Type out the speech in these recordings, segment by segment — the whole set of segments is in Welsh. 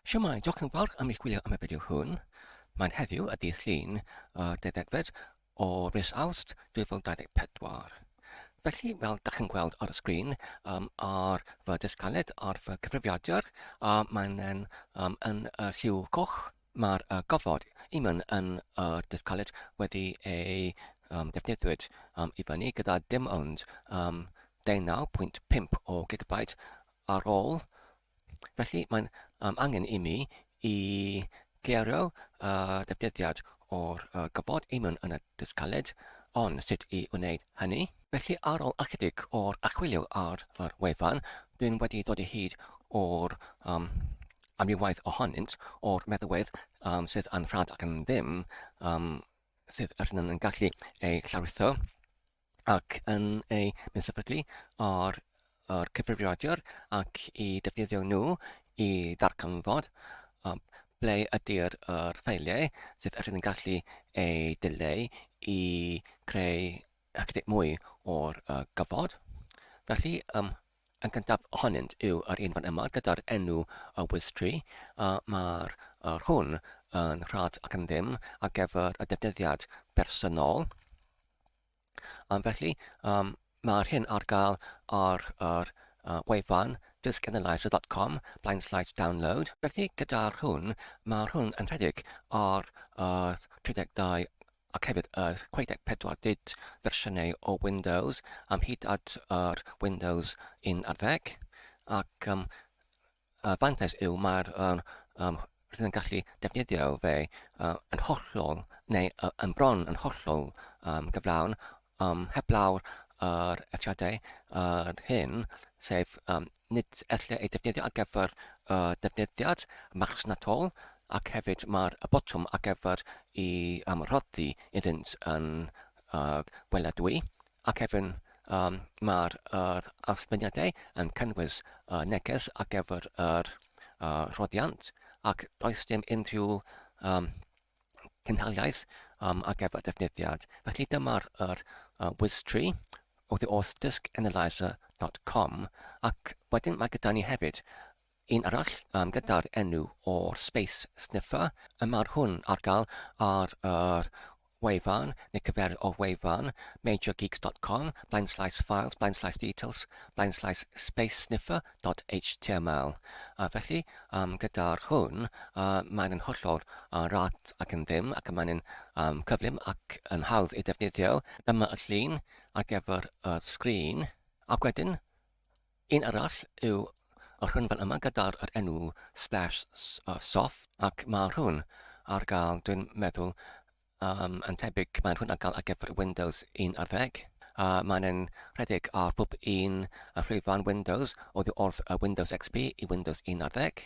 Shwmae, diolch yn fawr am eich gwylio am y fideo hwn. Mae'n heddiw y dydd Llun, y dedegfed o mis Awst 2024. Felly, fel da chi'n gweld ar y sgrin, um, ar fy dysgaled, ar fy cyfrifiadur, a mae'n um, yn y lliw coch, mae'r uh, gofod i mynd yn y uh, dysgaled wedi ei um, defnyddiwyd um, i fyny gyda dim ond um, 19.5 o gigabyte ar ôl Felly, mae'n um, angen i mi i gleirio uh, defnyddiad o'r uh, gofod i mewn yn y dysgaled, ond sut i wneud hynny? Felly, ar ôl ychydig o'r achwilio ar yr wefan, dwi'n wedi dod i hyd o'r um, amrywaeth ohonynt o'r meddwedd um, sydd yn rhad ac yn ddim um, sydd ydyn yn gallu ei llawritho. ac yn eu mesapiglu o'r o'r cyfrifiadur ac i defnyddio nhw i ddarganfod um, ble ydy'r er ffeiliau sydd er yn gallu ei dileu i creu ychydig mwy o'r uh, gyfod. Felly, um, yn gyntaf ohonynt yw yr un fan yma gyda'r enw y WizTree. Uh, Mae'r uh, hwn yn rhad ac yn ddim ar gyfer y defnyddiad personol. Am felly, um, mae'r hyn ar gael ar yr uh, wefan dysganalyzer.com blaen slides download. Felly gyda'r hwn, mae'r hwn yn rhedeg ar yr 32 ac hefyd yr 64 bit fersiynau o Windows am hyd at yr Windows 11 ac um, Y fantais yw mae'r um, um, rydyn yn gallu defnyddio fe uh, yn hollol neu uh, yn bron yn hollol um, gyflawn um, heblaw'r yr eithriadau yr hyn, sef um, nid ella ei defnyddio ar gyfer y uh, defnyddiad marchnatol ac hefyd mae'r y botwm ar gyfer i um, rhoddi iddynt yn uh, gweladwy. Ac erbyn um, mae'r yr archwiliadau yn cynnwys uh, neges ar gyfer yr uh, rhoddiant ac does dim unrhyw um, cynhaliaeth um, ar gyfer defnyddiad. Felly dyma'r yr, uh, WizTree oddi wrth diskanalyzer.com ac wedyn mae gyda ni hefyd Un arall um, gyda'r enw o'r Space Sniffer, y mae'r hwn ar gael ar yr wefan, neu cyferydd o wefan, majorgeeks.com, blaen slaes files, blaen slaes details, blaen slaes spacesniffer.html. A felly, um, gyda'r hwn, uh, mae'n yn hollol uh, rad ac yn ddim, ac mae'n yn um, cyflym ac yn hawdd ei defnyddio. Dyma y llun ar gyfer y sgrin, ac wedyn Un arall yw y rhynfan yma gyda'r yr enw Splash Soft ac mae rhwn ar gael dwi'n meddwl um, yn tebyg mae rhwn ar gael ar gyfer Windows 11 a mae'n yn rhedeg ar bob un rhwyfan Windows oddi wrth y Windows XP i Windows 11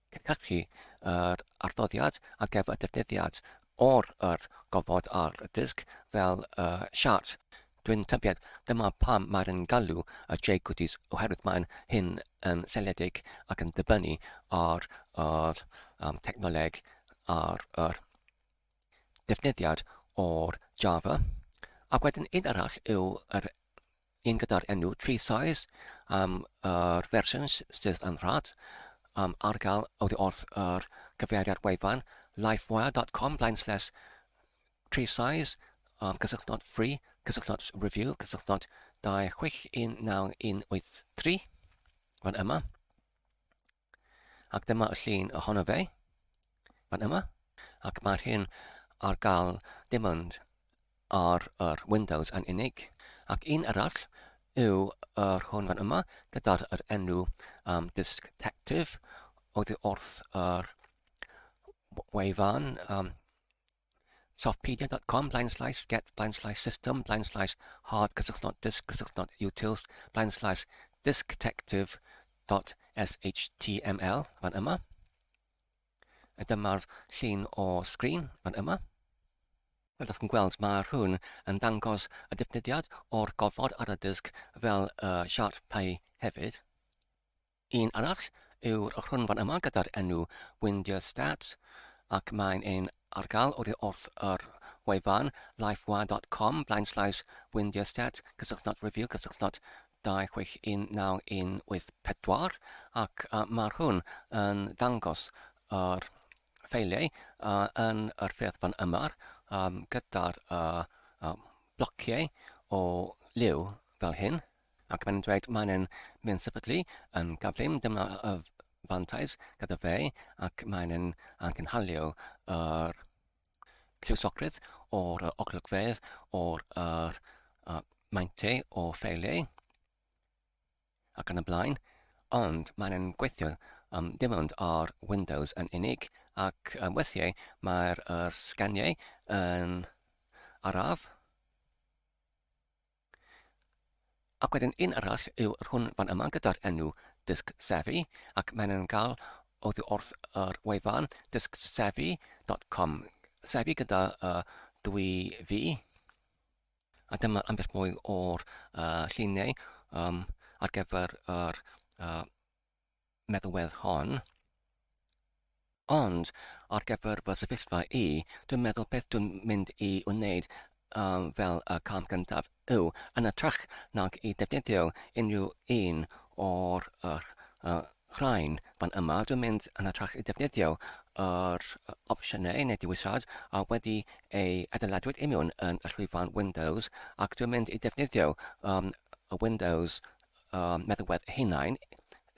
Cynhyrchu yr adroddiad ar gyfer defnyddiad o'r yr gofod ar y dysg fel y siart. Dwi'n tybied, dyma pam mae'r yn galw y Jay Goodies oherwydd mae'n hyn yn seiliedig ac yn dibynnu ar yr um, technoleg ar yr defnyddiad o'r Java. Ac wedyn un arall yw yr un gyda'r enw Tree Size am yr fersiwn sydd yn rhad um, ar gael oddi wrth yr cyfeiriad wefan lifewire.com blaen slash tree size um, cysylltnod free cysylltnod review cysylltnod 261983 fan yma Ac dyma y llun ohono fe, fan yma. Ac mae'r hyn ar gael dim ond ar yr Windows yn unig. Ac un arall yw yr hwn fan yma gyda'r yr enw um, Disc Detective oddi wrth yr wefan um, Softpedia dot com blaen slaes get blaen slaes system blaen slaes hard cysylltnod disk cysylltnod utils blaen slaes diskdetective dot shtml fan yma. A dyma'r llun o sgrin fan yma. Fel ydych chi'n gweld, mae rhywun yn dangos y defnyddiad o'r gofod ar y disk fel y siarpau hefyd. Un arall yw'r ochrynfa yma gyda'r enw Windiastadt ac mae'n ein ardal oddi wrth yr wefan lifewire dot com blaenslaes windiastadt cysylltnod review cysylltnod 261984 ac mae hwn yn dangos yr ffeiliau yn yr ffurf fan yma gyda'r blociau o liw fel hyn. Ac mae'n dweud mae'n yn mynd sefydlu yn gyflym, dyma y fantais gyda fe, ac mae'n yn angynhalio yr lliwsogrwydd o'r oglygfedd, o'r yr, uh, maintau o ffeiliau, ac yn y blaen, ond mae'n yn gweithio um, dim ond ar Windows yn unig, ac um, weithiau mae'r er sganiau yn araf, Ac wedyn un arall yw'r hwn fan yma gyda'r enw dysg sefi ac mae'n yn cael oddi wrth yr wefan dysgsefi.com sefi gyda uh, dwy fi a dyma ambell mwy o'r uh, lluniau um, ar gyfer yr uh, meddwedd hon. Ond, ar gyfer fy sefyllfa i, dwi'n meddwl beth dwi'n mynd i wneud um, fel y cam gyntaf yw, yn ytrach nag i defnyddio unrhyw un o'r yr, uh, rhain fan yma, dwi'n mynd yn ytrach i defnyddio yr opsiynau neu dewisiad a wedi ei adeiladwyd imiwn yn y llwyfan Windows ac dwi'n mynd i defnyddio um, y Windows um, meddywedd hunain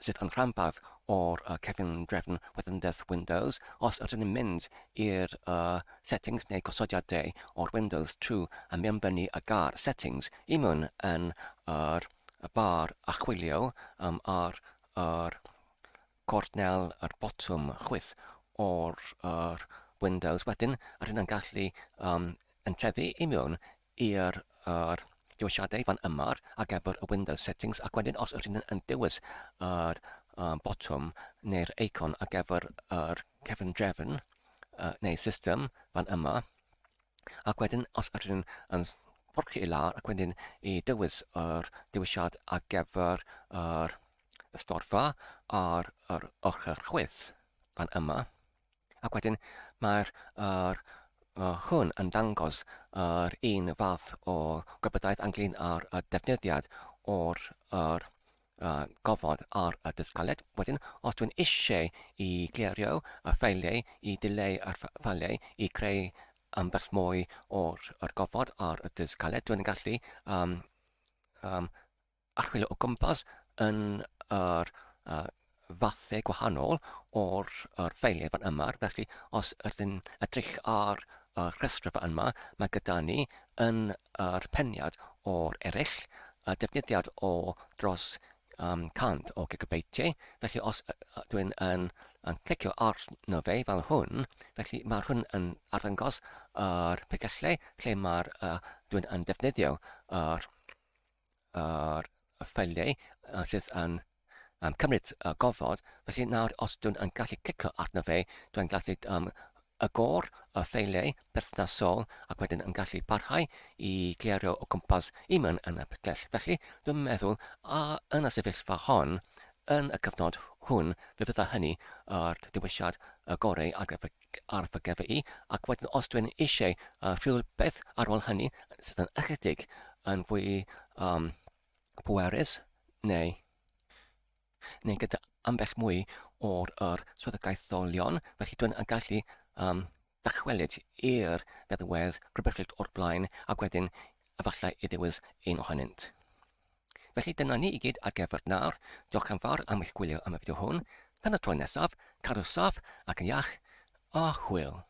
sydd yn rhanbarth o'r uh, cefndrefn weddynddes Windows. Os ydyn ni'n mynd i'r uh, settings neu gosodiadau o'r Windows trwy a mi ymbennu y gar settings i mewn yn yr y bar achwilio um, ar yr gornel yr botwm chwith o'r yr Windows wedyn, rydyn yn gallu um, yn trefi i mewn i'r yr dewisiadau fan yma ar gyfer y Windows Settings ac wedyn os ydyn yn dewis yr um, botwm neu'r eicon ar gyfer yr cefn drefn uh, neu system fan yma ac wedyn os ydyn yn porcio i lawr ac wedyn i dewis yr dewisiad ar gyfer yr ystorfa ar yr ochr chwith fan yma. Ac wedyn mae'r yr uh, hwn yn dangos yr uh, un fath o gwybodaeth ynglyn â'r uh, defnyddiad o'r yr uh, gofod ar y dysgaled. Wedyn, os dwi'n eisiau i glerio y ffeiliau, i dileu y ffeiliau, i creu ambell mwy o'r, o'r gofod ar y dysgaled, dwi'n gallu um, um, a chwilio o gwmpas yn yr uh, fathau gwahanol o'r er ffeiliau fan yma. Felly, os ydyn edrych ar y rhestr fan yma, mae gyda ni yn yr peniad o'r eraill y defnyddiad o dros um, 100 o gigabeitiau. Felly, os dwi'n yn, yn clicio arno fe fel hwn, felly mae hwn yn arddangos yr er pegyllau lle mae'r uh, dwi'n yn defnyddio yr er ar y ffeiliau sydd yn um, cymryd uh, gofod. Felly nawr, os dwi'n yn gallu clicio arno fe, dwi'n gallu um, agor y ffeiliau perthnasol ac wedyn yn gallu parhau i glerio o gwmpas i mewn yn y ptell. Felly, dwi'n meddwl, a yn y sefyllfa hon, yn y cyfnod hwn, fe fydda hynny ar ddiwysiad y gorau ar gyfer ar fy gefn i, ac wedyn os dwi yn eisiau uh, rhywbeth ar ôl hynny sydd yn ychydig yn fwy um, pwerus neu neu gyda ambell mwy o'r yr swyddogaetholion, felly dwi'n yn gallu um, dychwelyd i'r feddywedd rhywbeth o'r blaen ac wedyn efallai i ddewis un ohonynt. Felly dyna ni i gyd ar gyfer nawr, diolch yn fawr am eich gwylio am y fideo hwn, tan y tro nesaf, cadw saff ac yn iach, a hwyl!